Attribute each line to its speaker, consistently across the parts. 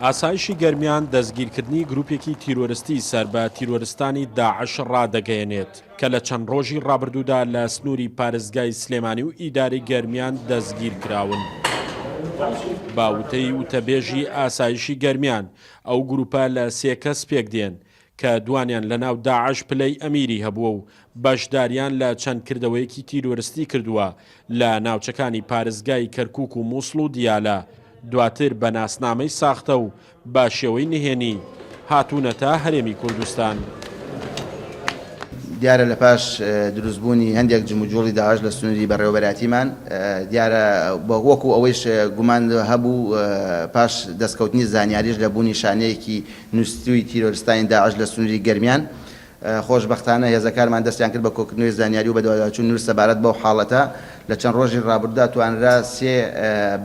Speaker 1: ئاسایشی گەرمیان دەستگیرکردنی گروپێکی تیرۆرستی سەر بە تیرۆرستانی داعش ڕادەگەیەنێت کە لە چەند ڕۆژی ڕابردوودا لە سنووری پارێزگای سلێمانی و ئیداری گەرمیان دەستگیر کراون. باوتەی وتەبێژی ئاسایشی گەرمیان ئەو گروپە لە سێ کەس پێکدێن کە دوانیان لە ناو داعش پلەی ئەمیری هەبووە و بەشداریان لە چەند کردەوەیەکی تیرۆرستی کردووە لە ناوچەکانی پارێزگای کەرکووک و مووسڵ و دیالە، دواتر بە ناسنامەی ساختە و بە شێوەی نهێنی هاتوونەتە هەرێمی کوردستان.
Speaker 2: دیارە لە پاش دروستبوونی هەندێک جموجووڵی داعش لە سنووری بەڕێوەبەرایەتیمان، دیارە وەکو ئەوەیش گومان هەبوو، پاش دەستکەوتنی زانیاریش لە بوونی شانەیەکی نوستووی تیرۆرستانی داعش لە سنووری گەرمیان. خۆشبەختانە هێزەکارمان دەستیان کرد بە کۆکردنەوەی زانیاری و بەدواداچوون نووس سەبارەت بەو حاڵەتە. لە چەند ڕۆژی ڕابردوودا توانرا سێ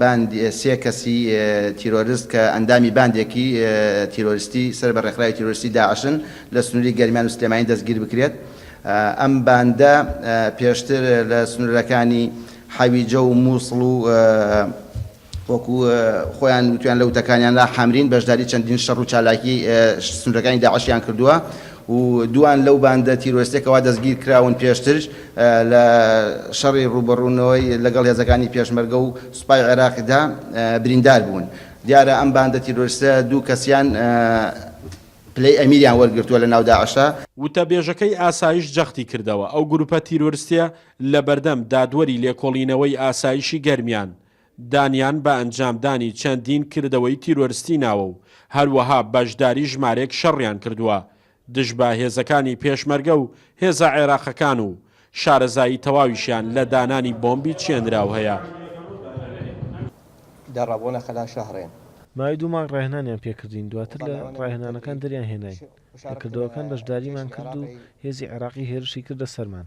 Speaker 2: باند سێ کەسی تیرۆرست کە ئەندامی باندێکی تیرۆرستی سەر بە ڕێکخراوی تیرۆرستی داعشن لە سنووری گەرمیان و سلێمانی دەستگیر بکرێت. ئەم باندە پێشتر لە سنوورەکانی حەویجە و مووسڵ و وەکو خۆیان وتویان لە وتەکانیاندا حامرین بەشداری چەندین شەڕ و چالاکی سنورەکانی داعشیان کردووە و دووان لەو باندە تیرۆرستە کەوا دەستگیرکراون پێشتر لە شەڕی ڕووبەڕوونەوەی لەگەڵ هێزەکانی پێشمەرگە و سوپای عێراقیدا بریندار بوون دیارە ئەم باندە تیرۆرستە دوو کەسیان پلەی ئەمیریان وەرگرتووە لە ناو داعشدا. وتەبێژەکەی
Speaker 1: ئاسایش جەختی کردەوە، ئەو گروپە تیرۆرستیە لەبەردەم دادوەری لێکۆڵینەوەی ئاسایشی گەرمیان دانیان بە ئەنجامدانی چەندین کردەوەی تیرۆرستی ناوە و هەروەها بەشداری ژمارێک شەڕیان کردووە دژ بە هێزەکانی پێشمەرگە و هێزە عێراقەکان و شارەزایی تەواویشیان لە دانانی بۆمبی چێنراو هەیە.
Speaker 3: ماوەی دوو مانگ
Speaker 4: ڕاهێنانیان پێ کردین، دواتر لە ڕاهێنانەکان دەریان هێناین. لە کردەوەکان بەشداریمان کرد و هێزی عێراقی هێرشی کردە سەرمان.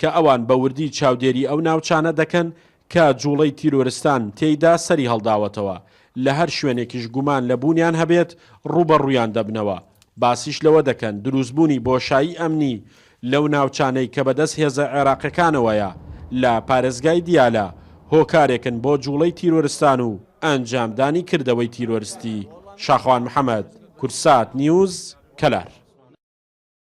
Speaker 1: کە ئەوان بە وردی چاودێری ئەو ناوچانە دەکەن کە جوڵەی تیرۆرستان تێیدا سەری هەڵداوەتەوە، لە هەر شوێنێکیش گومان لە بوونیان هەبێت ڕووبەڕوویان دەبنەوە، باسیش لەوە دەکەن دروستبوونی بۆشایی ئەمنی لەو ناوچانەی کە بەدەست هێزە عێراقیەکانەوەیە لە پارێزگای دیالە هۆکارێکن بۆ جوڵەی تیرۆرستان و ئەنجامدانی کردەوەی تیرۆرستی شاخەوان محەمەد، کوردسات نیوز، کەلار.